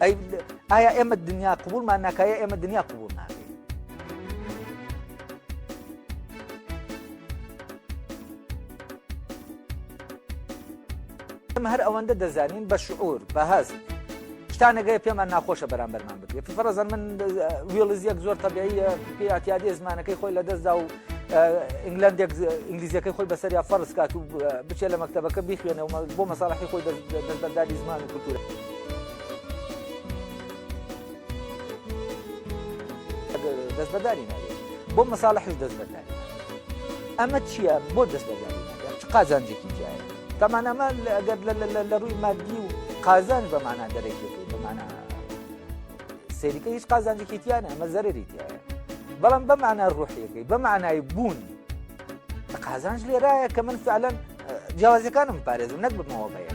ئەی ئایا ئێمە دنیا قوبولمان ناکایە ئێمە دنیا قوبول ناکە ئێمە هەر ئەوەندە دەزانین بە شعور بە هەست شتانەگەی پێمان ناخۆشە بەرامبەرمان بێ فڕەزان من وێڵزیەک زۆر تەبیعیە پێیاتیادی زمانەکەی خۆی لە دەستدا و ئینگلندێک ئینگلیزیەکەی خۆی بەسەر یا فەرز کات و بچێت لە مەکتتەبەکە بیخوێنەوە بۆ مەساڵحی خۆی دەستبەرداری زمان و کولتورە. دەستبەرداری نابێت بۆ مەساڵحش دەستبەرداری ئەمە چییە بۆ دەستبەرداری نابێت چ قازانجێکی تایە تامان ئەمە ئەگەر لە ڕووی مادی و قازان بەمانە دەرەکی بەمانە سەریکە هیچ قازانجێکی تیانە ئەمە زەرری تایە بەڵام بەمانە ڕوحیەکەی بەمانای بوون قازانج لێرایە کە من فعلەن جیاوازەکانم پارێزم نەک بمەوە بەیە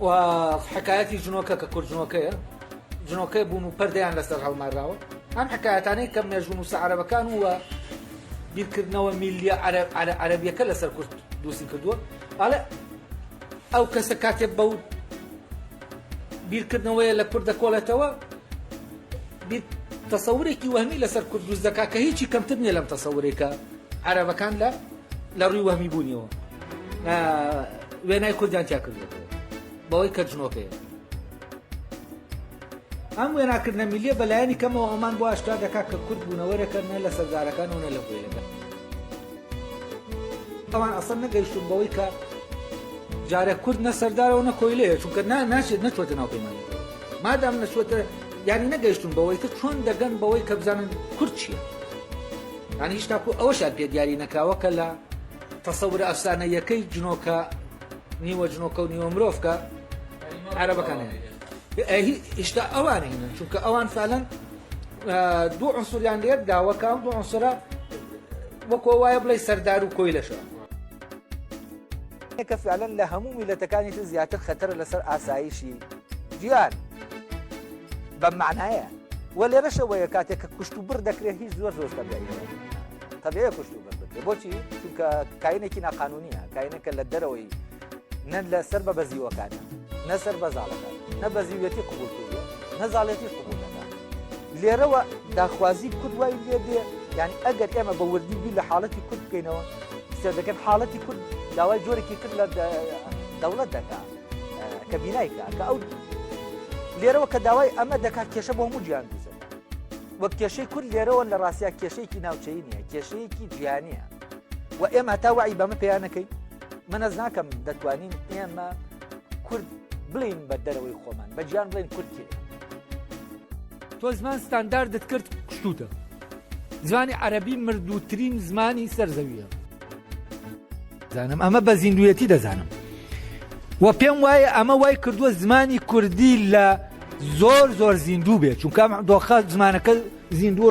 و حکایەتی جنۆکە کە کورد جنۆکەیە جنۆکەی بوون و پەردەیان لەسەر هەڵماراوە ئەم حکایەتانەی کە مێژوو نووسە عەرەبەکان و بیرکردنەوە میلیە عەرەبیەکە لەسەر کورد دووسی کردووە ئاڵێ ئەو کەسە کاتێ بەو بیرکردنەوەیە لە کورد دەکۆڵێتەوە تەسەورێکی وەهمی لەسەر کورد دوست دەکا کە هیچی کەمتر نیە لەم تەسەورێکە عەرەبەکان لە لە ڕووی وەهمی بوونیەوە وێنای کوردیان تیا کردێتەوە بەوەی کە جنۆکەیە ئەم وێناکردنە میلیە بەلایەنی کەمەوە ئەمان بۆ ئاشکرا دەکات کە کورد بوونەوەرەکە نە لە سەردارەکان و نە لە هوێنەکە ئەوان ئەسەر نەگەیشتون بەوەی کە جارە کورد نە سەردارەوە نە کۆیلەیە چونکە ناشێت نەچۆتە ناو پەیمان مادام نەچوەتە یانی نەگەیشتون بەوەی کە چۆن دەگەن بەوەی کە بزانن کورد چیە یانی هیچ تاکو ئەوەشیان پێ دیاری نەکراوە کە لە تەسەورە ئەفسانەییەکەی جنۆکە نیوە جنۆکە و نیوە مرۆڤکە عەرەبەکان هیشتا ئەوان هینە چونکە ئەوان فالەن دوو عنسوریان لێت داوەکە ئەم دوو عنسرە وەکۆ وایە بڵێ سەردار و کۆی لەشە کە فعلەن لە هەموو میلەتەکانی تر زیاتر خەتەرە لەسەر ئاسایشی جیان بەم معنایە وە لێرەش ئەوەیە کاتێک کە کوشت و بڕ دەکرێت هیچ زۆر زۆر تەبێ کوشت و بڕ بکرێت بۆچی چونکە کاینێکی ناقانونیە کاینەکە لە دەرەوەی نەن لە سەر بە بەزیوەکانە نەسەر بەزاڵەکە نە بەزیوێتی قوبول کردو نەزاڵێتی قوبولەکە لێرەوە داخوازی کورد وای لێ دێ یعنی ئەگەر ئێمە بە وردی بی لە حاڵەتی کورد بکەینەوە سێ دەکەن حاڵەتی کورد داوای جۆرێکی کرد لە دەوڵەت دەکات کە بینای کا کە ئەو لێرەوە کە داوای ئەمە دەکات کێشە بۆ هەموو گیان دوزن وەک کێشەی کورد لێرەوە لە ڕاستیا کێشەیەکی ناوچەی نیە کێشەیەکی جیانە و ئێمە تا وعی بەمە پێیانەکەی منەز ناکەم دەتوانین ئێمە کورد بڵین بە دەرەوەی خۆمان بە گیان بڵێن کورتی تۆ زمان ستانداردت کرد شتوتە زمانی عەربی مردووترین زمانی سەرزەویە زانم ئەمە بە زیندویەتی دەزانم و پێم وایە ئەمە وای کردووە زمانی کوردی لە زۆر زۆر زیندوو بێت چونکە دۆخە زمانەکە زیندوو